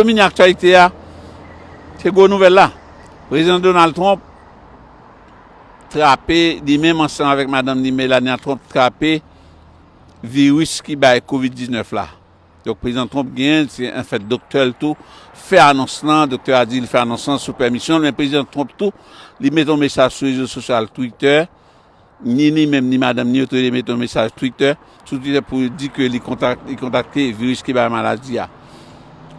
Domine aktyalite a se gwo nouvèl la, Prezidan Donald Trump trape li menm ansanm avèk madanm li Melania Trump trape viris ki bay kovid 19 la. Donk Prezidan Trump genyen l, se anfèt doktè l tou fè anons lan, doktè a di li fè anons lan sou pèmisyon l men Prezidan Trump tou li mete yon mesaj sou rezo sosyal Twitter Ni li menm ni madanm ni yo tou le 2 mete yon mesaj Twitter, sou Twitter pou yo di ke li kontakte viris ki bay maladi a.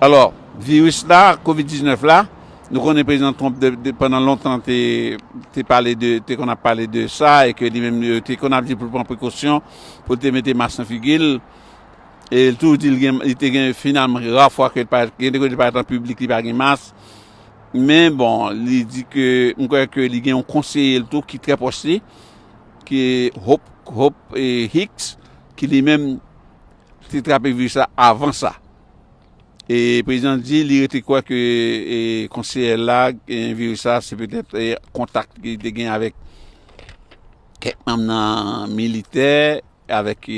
Alò, viris la, covid 19 la, nou konnen Prezidan Trump pandan lontan te pale de, te konn ap pale de sa e ke li menm yo te konn ap di pou l pran prekosyon, pou l te mete mas nan figi l. E l tou di li te gen finalman ra fwa ke l pa, gen de kote li parèt an piblik li pa gen mas. Men bon, li di ke, m kwè ke li gen yon konseye l tou ki trè pwòch li, ki Hope Hicks, ki li menm te trape viris la avan sa. E prezidan di li rete kwè ke konseye l la gen viris la, se petèt kontak li te gen avèk kèk manm nan militè avèk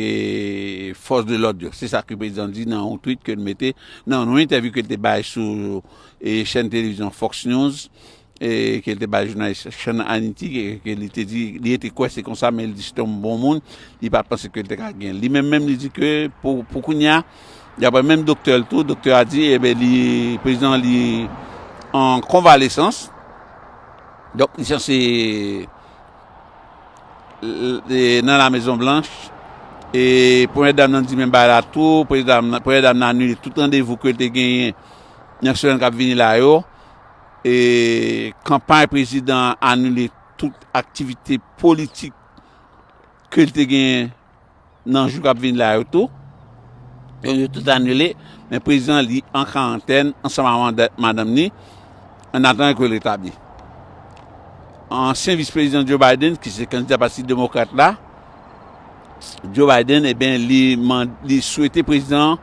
fòs de lòd yo, se sa ke prezidan di nan yon tweet ke li mete nan yon entèvyou ke li te bay sou chèn televizyon Fox News ke li te bay jounalis Sean Hannity ke li te di li rete kwè se konsa men li di se te yon bon moun li pa panse ke li te ka gen li menm menm li di ke pou kounya daprè menm doktè l tou, doktè a di e ben li prezidan li an konvalesans donk li sanse. nan la mezon blanch e premyè dam nan di menm bagay la tou premyè dam nan anile tout randevou ke l te genyen nan semèn kap vini la yo e kanpay prezidan anile tout aktivite politik ke l te genyen Nan jou kap vini la yo tou, yo yo tout anile, men prezidan li an karantèn ansanm ak madanm ni, an atandan ke l retabli. Ansyen vis prezidan Joe Biden ki se kandida pati demokrat la, Joe Biden eben li swete prezidan an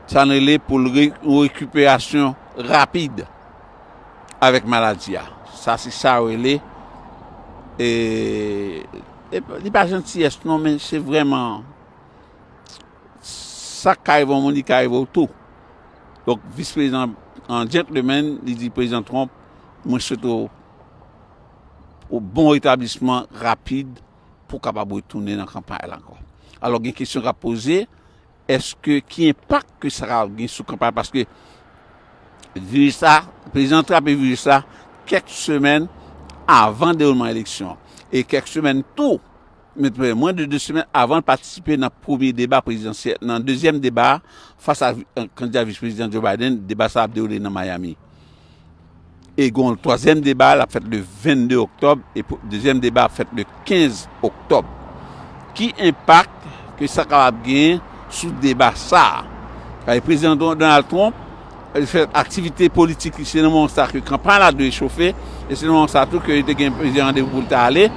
sa n rele pou l yon rekiperasyon rapid avèk maladi a. Sa se sa yo rele. Li pa jantiyès non men se vrèman sa k ka rive yon moun li ka rive w tou. Donk vis prezidan an djentlemen li di prezidan Trump mwen swete w yon bon retablisman rapid pou w kapab retounen nan kanpay la ankò. Alò gen kesyon k ap poze. Eske ki enpak ke sa ka gen sou kanpay paske viris la, prezidan trape viris la kèk semèn avan dewoulman eleksyon an e kèk semèn tou, mwen de 2 semèn avan l patisipe nan premye deba prezidansyèl, nan dezyèm deba a fas a kandida vis prezidan Joe Biden, deba sa ap dewoule nan Miami. E gen yon twazyèm deba l ap fèt le 22 oktòb e dezyèm deba ap fèt le 15 oktòb. Ki enpak ke sa kapab genyen sou deba sa a? Paske Prezidan Donald Trump li fè aktivite politik li se nan moman sa ke kanpay la dwe chofe e se nan moman sa tou ke li te gen plizyè randevou pou l ta ale.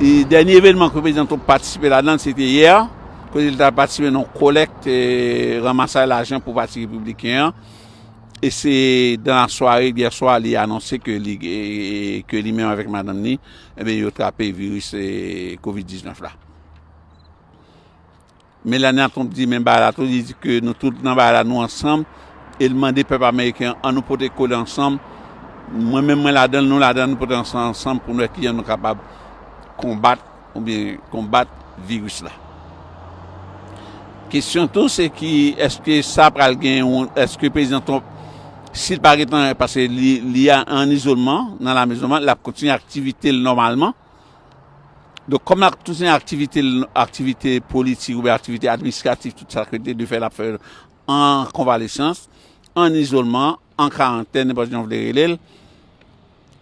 E dènye evènman ke Prezidan Trump patisipe ladan l se te yè kote li t al patisipe nan yon kolèk ramasay lajan pou pati Repibliken an. E se dan la sware d'yè swa li anonse ke li ke li menm avèk madanm ni ebyen yo trape viris covid 19 la. Melania Trump di menm bagay la tou, li di ke nou tout nan bagay la nou ansanm e li mande pèp ameriken an annou pote kole ansanm, mwen menm mwen ladanl, nou ladanl annou pote ansanm pou nou wè kijan nou kapab konbat. oubyen konbat viris la. Kesyon tou se ki eske sa pral gen yon eske prezidan Trump si l pa gen tan paske li an izolman nan lamezon l ap kontinye aktivite l nòmalman donk kòm l ap kontinye aktivite l aktivite politik oubyen aktivite administratif tout sa k rete l ap fè l an konvalesans an izolman. an karantèn nenpòt jan w vle rele l,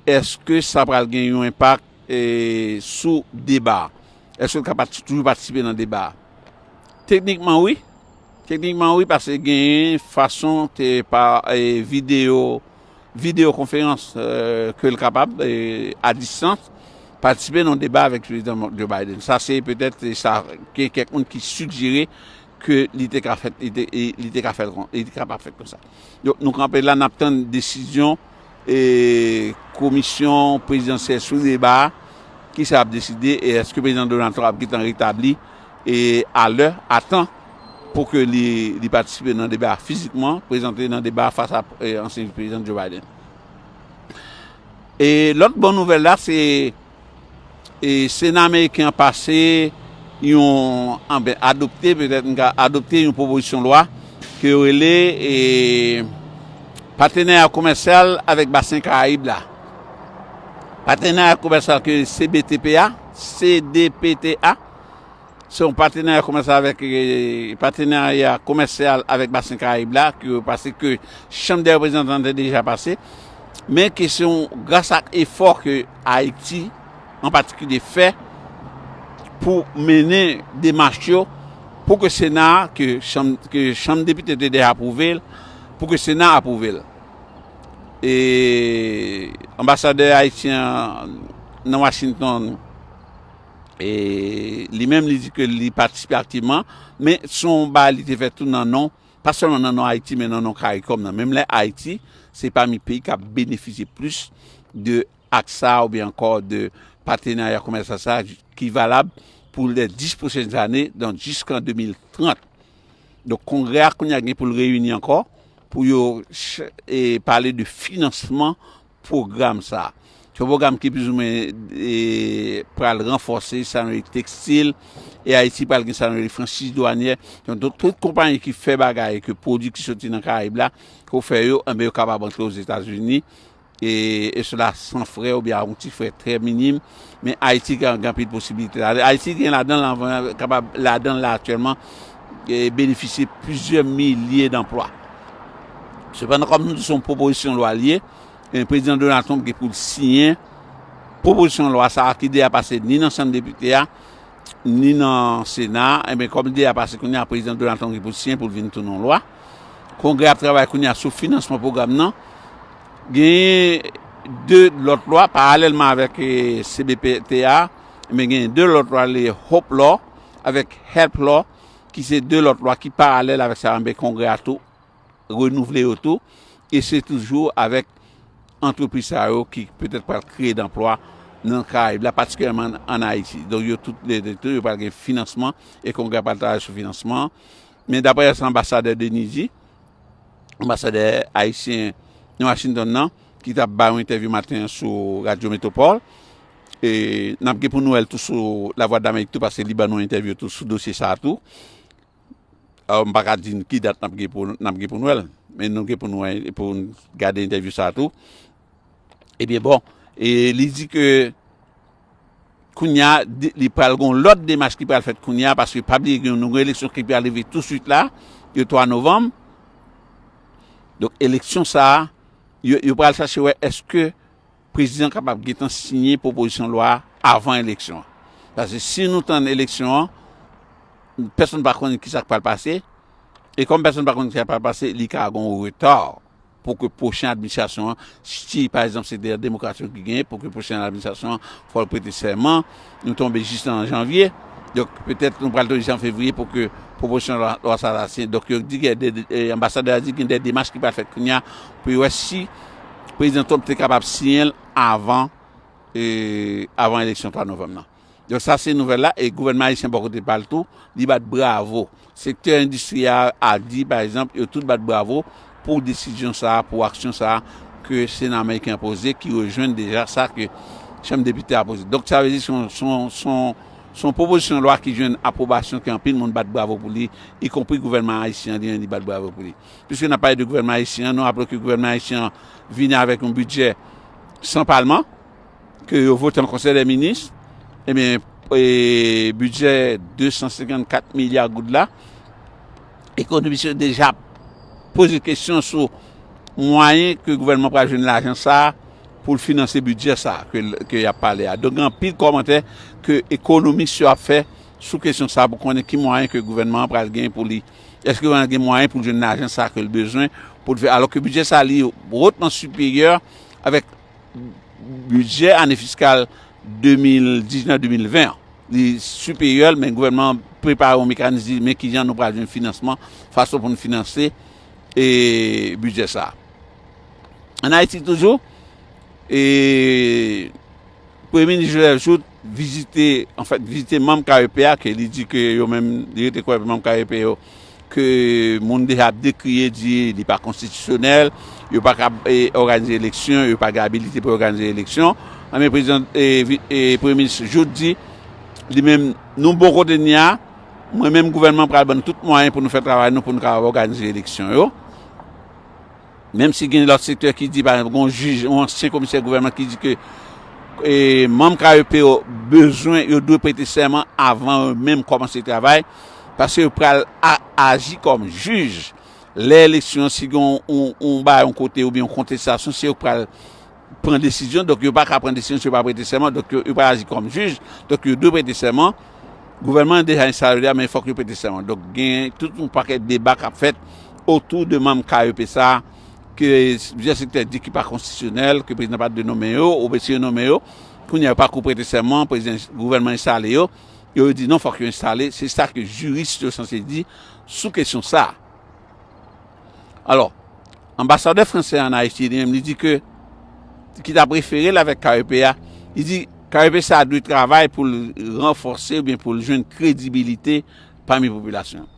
èske sa pral gen yon enpak sou deba a? Èske l ka toujou patisipe nan deba a? Teknikman wi, teknikman wi pase genyen fason ke pa videyo, videyo konferans ke l kapab a distans patisipe nan deba avèk Prezidan Joe Biden. Sa se petèt sa gen kèk moun ki sigjere. ke li te ka fèt li te e li te ka fèt kon li te ka pa fèt konsa donk nou kanpe la nap tann desizyon e komisyon prezidansyèl sou deba a kisa yap deside e eske prezidan Donald Trump ap gentan retabli e a lè a tan pou ke li li patisipe nan deba a fizikman prezante nan deba a fas a ansyen vice prezidan Joe Biden e lòt bon nouvèl la se E Sena Ameriken an pase yon, anben, adopte, petèt m ka, adopte yon pwopozisyon lwa ke yo rele e Patenarya Komèsyal avèk Basen Karayib la. Patenarya Komèsyal ke CBTPA, CDPTA. Se yon patenarya komèsyal avèk patenarya komèsyal avèk Basen Karayib la ke yo pase ke chanm dè reprezantan te deja pase men ke se yon gras ak efò ke Ayiti an patikilye fè pou mennen demach yo pou ke sena a ke chanm depite te deja apwouve l pou ke sena apwouve l e anbasadè ayisyen an nan Washington. li menm li di ke li patisipe aktivman, men son yon bagay li te fè tou nan non, pa sèlman nan non Ayiti men nan non Caricom nan, menm lè Ayiti se pami peyi k ap benefisye plis de ak sa a oubyen ankò de patenarya komèsyal sa a ki valab pou lè 10 pwochen zane, donk jiskan 2030. Donk kongrè a kounye a gen pou l reyini ankò pou yo pale de finansman. pwogram sa. Se yon pwogram ki plizoumwen pral ranfòse sa nou rele tekstil e Ayiti pral gen sa nou rele franchiz dwanyè. Donk tout konpayi ki fè bagay ke pwodui ki soti nan Karayib la pou fè yo, anben yo kapab antre Ozetazini e sela san frè oubyen a yon ti frè trè minim. Men Ayiti gen anpil posibilite ladan l. Ayiti gen ladan l anvan, kapab ladan l la aktyèlman, benefisye plizyè milye danplwa. Sepandan, kòm nou di se yon pwopozisyon lwa li ye, e Prezidan Donald Trump gen pou l siyen pwopozisyon lwa sa a ki deja pase ni nan Chanm Depite a, ni nan Sena a, enben kòm li deja pase kounye a, Prezidan Donald Trump gen pou l siyen pou l vin tounen yon lwa. Kongrè a ap travay kounye a sou finansman pwogram nan. Genyen 2 lòt lwa paralèlman avèk CBPT a, men genyen 2 lòt lwa rele Hope Law avèk Health Law ki se 2 lòt lwa ki paralèl avèk sa a men Kongrè a tou renouvle yo tou e se toujou avèk antrepriz sa yo ki petèt pral kreye danplwa nan Karayib la patikilyèman an Ayiti. Donk yo tout lè 2 tou yo pral gen finansman e Kongrè a pral travay sou finansman an. Men daprè sa Anbasadè Denis di, anbasadè ayisyen nan Washington nan ki t ap bay yon entèvyou maten an sou radyo Metropole. E n ap gen pou nou wè l tou sou Lavwadlamerik tou paske li ban nou entèvyou tou sou dosye sa a tou. M pa ka di n ki dat n ap gen pou n ap gen pou nou wè l. Men nou gen pou nou wè pou n gade entèvyou sa a tou. Ebyen bon, e li di ke. Kounya li pral gon lòt demach ki pral fèt kounya paske pa bliye gen yon nouvo eleksyon ki pral rive tou swit la le 3 novanm donk eleksyon sa yo pral chache wè eske prezidan kapab gentan siyen pwopozisyon lwa avan eleksyon an paske si nou tann eleksyon an pèsonn pa konnen kisa k pral pase e kòm pèsonn pa konnen kisa k pral pase li ka gon reta. pou ke pwochen administrasyon an, si pa egzanp se de demokrat yo ki genyen, pou ke pwochen administrasyon an fò l prete sèman, nou tonbe jis nan janvye, donk petèt nou pral tonbe jis an fevriye pou ke pwopozisyon lwa sa ta siyen, donk yo di gen de, anbasadè a di gen de demach ki pral fèt kounye a pou yo wè si prezidan Trump te kapab siyen l avan, avan eleksyon 3 novanm nan. Donk sa se nouvèl la e gouvènman ayisyen bò kote pa l tou li bat bravo. Sektè endistri a a di pa egzanp yo tout bat bravo pou desizyon sa a, pou aksyon sa a ke sena meriken an poze ki rejwenn deja sa ke chanm depite a poze. Donk sa vle di se yon pwopozisyon lwa ki jwenn apwobasyon ke anpil moun bat bravo pou li ikonpri gouvènman ayisyen an li menm li bat bravo pou li. Piske n ap pale de gouvènman ayisyen an nou raple ke gouvènman ayisyen an vini avèk yon bidjè san palman. ke yo vote an konsèy dè minis, ebyen bidjè 254 milya goud la, ekonomis yo deja ap poze kesyon sou mwayen ke gouvènman pral jwenn lajan sa a pou l finanse bidjè sa a ke y ap pale a. Donk gen anpil kòmantè ke ekonomis yo ap fè sou kesyon sa a pou konnen ki mwayen ke gouvènman an pral gen pou li, èske gouvènman an gen mwayen pou l jwenn lajan sa a ke l bezwen pou l fè, alò ke bidjè sa a li wotman siperyè avèk. bidjè ane fiskal 2019-2020 an. Li siperyè l men gouvènman an prepare yon mekanis di men kijan nou pral jwenn finansman, fason pou nou finanse bidjè sa a. Ann Ayiti toujou, Premye Minis Joseph Jouthe vizite an fèt vizite manm KEP a ke li di ke yo menm li rete kwè manm KEP yo ke moun deja ap dekriye di li pa konstitisyonèl yo pa kab òganize eleksyon yo pa gen abilite pou yo òganize eleksyon anben prezidan premye minis Jouthe di li menm nou bon kote n ye a mwen menm gouvènman m pral ban nou tout mwayen pou nou fè travay nou pou nou kab òganize eleksyon yo. Menm si gen lòt sektè ki di, pa egzanp, gen yon jij, yon ansyen komisè gouvènman ki di ke manm KEP yo bezwen, yo dwe prete sèman avan yo menm kòmanse travay, paske yo pral aji kòm jij lè eleksyon, si gen yon bagay yon kote oubyen yon kontestasyon, se yo k pral. pran desizyon, donk yo pa ka pran desizyon si yo pa prete sèman, donk yo pa aji kòm jij, donk yo dwe prete sèman, gouvènman an deja enstale yo deja men fòk yo prete sèman, donk gen tout yon pakèt deba k ap fèt otou de manm KEP sa a ke plizyè sektè di ki pa konstitisyonèl, ke prezidan pa t dwe nonmen yo, oubyen si yo nonmen yo, kounye a yo pa kou prete sèman, prezidan, gouvènman enstale yo, yo yo di non fòk yo enstale, se sa ke jiris yo sanse di sou kesyon sa a. Alò, anbasadè fransè an Ayiti li menm li di ke ki ta prefere l avèk KEP a, li di KEP sa a dwe travay pou l ranfòse oubyen pou l jwenn kredibilite pami popilasyon an.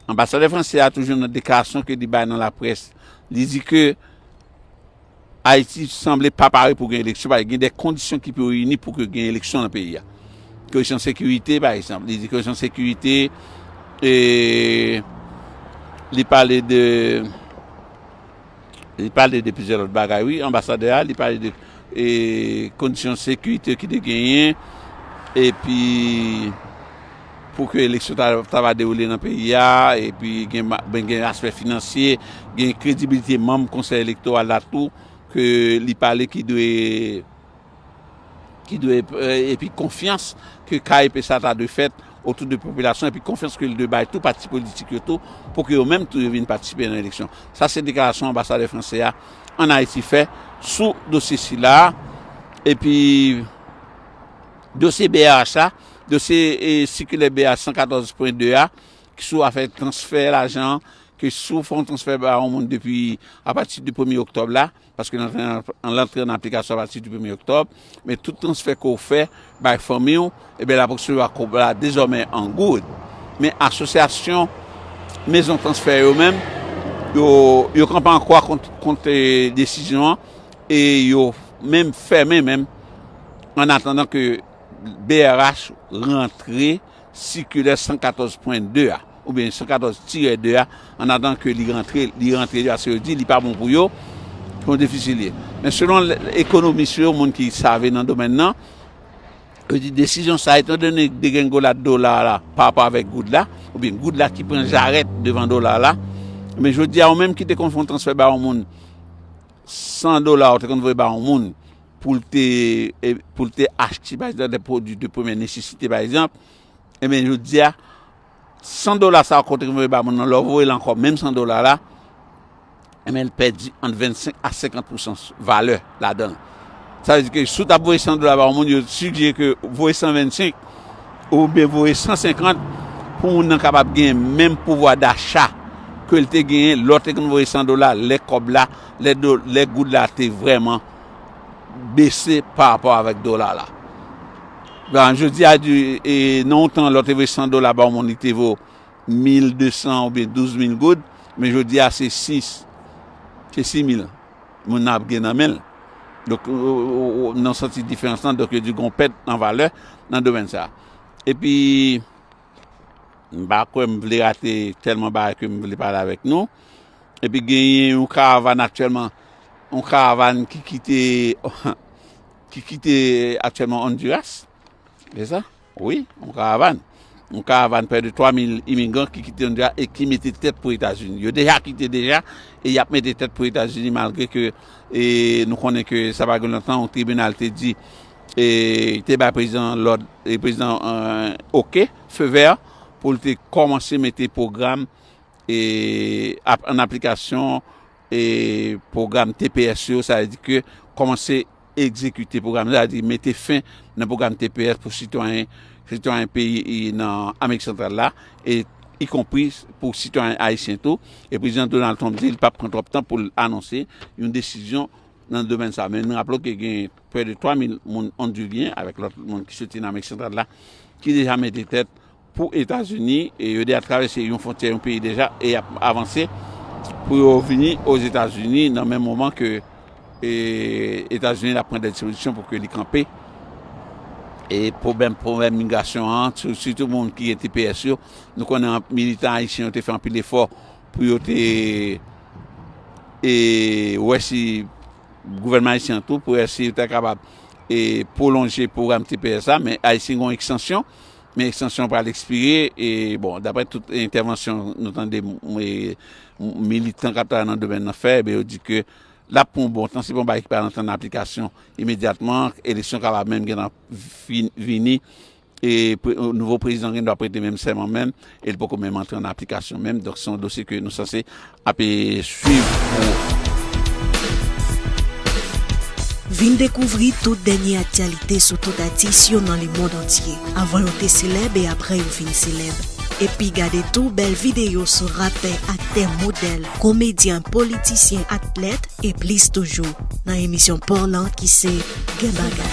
Anbasadè fransè a toujou nan deklarasyon ke li bay nan laprès li di ke, Ayiti sanble pa pare pou gen eleksyon paske gen de kondisyon ki pou reyini pou ke gen eleksyon nan peyi a. Kesyon sekirite pa egzanp, li di kesyon sekirite e li pale de li pale de plizyè lòt bagay wi anbasadè a, li pale de e kondisyon sekirite ki te genyen epi pou ke eleksyon ta va dewoule nan peyi a, epi gen aspè finansye, gen kredibilite manm konsèy elektoral la tou, ke li pale ki dwe, ki dwe, epi konfyans ke KEP sa ta dwe fèt otou de popilasyon, epi konfyans ke li dwe bay tou pati politik yo tou, pou ke yo menm tou yo vin patisipe nan eleksyon. Sa se deklarasyon anbasadè franse a an Ayiti fè sou dosye sila a, epi dosye brh la. Dosye sikilè BA 114.2 a ki sou afè transfè lajan an, ke si w fè yon transfè ba yon moun depi apati de premye oktòb la, paske l antre an aplikasyon apati de premye oktòb, men tout transfè ke w fè bay fanmi w, ebyen l ap resevwa kòb la dezòmè an goud. Men asosyasyon mezon transfè yo menm, yo kanpe an kwa kont desizyon an e yo menm fèmen menm an atandan ke. brh rantre sikilè 114 pwen 2 a, oubyen 114 tirè 2 a, an atandan ke li rantre, li rantre li paske yo di li pa bon pou yo, se yon defisi li ye. Men selon ekonomis yo, moun ki save nan domèn nan, yo di desizyon sa etan done degrengolad dola la pa rapò avèk goud la, oubyen goud la ki pran jarèt devan dola la, men jodi a ou menm ki te konn fè yon transfè ba yon moun 100 dola ou te konn voye ba yon moun, pou l te pou l te achte pa egzanp dè pwodui de premyè nesesite pa egzanp enben jodi a 100 dola sa konte ke voye ba moun nan lè w voye l ankò menm 100 dola la enben l pèdi ant 25 a 50 pousan valè ladan l sa vle di ke si w t ap voye 100 dola ba yon moun yo sigjere ke voye 125 oubyen voye 150 pou moun nan kapab gen menm pouvwa dacha ke l te genyen lè w te konn voye 100 dola lè kòb la lè goud la te vrèman bese pa rapò avèk dola la. Gan jodi a di e nan yon tan lò te voye 100 dola ba yon moun li te vo 1200 oubyen 12000 goud, men jodi a se 6 se 6000 moun nan ap gen nan men l. Donk nan santi diferans lan donk yo di gon pèt nan valè nan domèn sa. Epi M pa kwè m vle rate tèlman bagay ke m vle pale avèk nou. Epi genyen yon karavàn aktyèlman, yon karavàn ki kite, ki kite aktyèlman Ondiras. Se sa? Wi, yon karavàn. Yon karavàn prè de 3 mil imigran ki kite Ondiras e ki mete tèt pou Etazini. Yo deja kite deja e y ap mete tèt pou Etazini malgre ke nou konnen ke sa pa gen lontan yon tribinal te di E te bay prezidan an lòd, e prezidan an oke, feu vert, pou l te kòmanse mete pwogram e ap an aplikasyon e pwogram tps yo, sa vle di ke kòmanse egzekite pwogram sa, sa vle di mete fen nan pwogram tps pou sitwayen, sitwayen peyi e nan Amerik Santral la, e ikonpri pou sitwayen ayisyen tou, e prezidan Donald Trump di l pa p pran twòp tan pou l anonse yon desizyon. nan domèn sa, men nou raple w ke gen prè de 3 mil moun Ondiryen avèk lòt moun ki soti nan Amerik Santral la ki deja mete tèt pou Etazini e yo deja travèse yon fwontyè yon peyi deja e y ap avanse pou yo vini Ozetazini nan menm moman ke Etazini ap pran dè dispozisyon pou ke li kanpe e pwobèm pwobèm migrasyon an sitou moun ki gen tps yo nou konnen militan ayisyen yo te fè anpil efò Pou yo te e wè si gouvènman ayisyen an tou pou wè si yo ta kapab e pwolonje pwogram tps la men ayisyen gen yon ekstansyon men ekstansyon an pral ekspire e bon daprè tout entèvansyon nou tande militan k ap travay nan domèn nan fè yo di ke l ap pran yon bon tan se pa yon bagay ki pral antre nan aplikasyon imedyatman eleksyon kapab menm gentan vini E nouvo prezidan gen dwa prete menm sèman menm e li poko menm antre an aplikasyon menm. Donk se yon dosye ke nou sanse ap swiv pou. Vin dekouvri tout dènye aktyalite sou tout atis yo nan lemond antye, avan yo te selèb e aprè yo fin selèb. Epi gade tou bèl videyo sou rapè, aktè, modèl, komedyen, politisyen, atlèt, e plis toujou nan emisyon paw lan ki se Gen Bagay.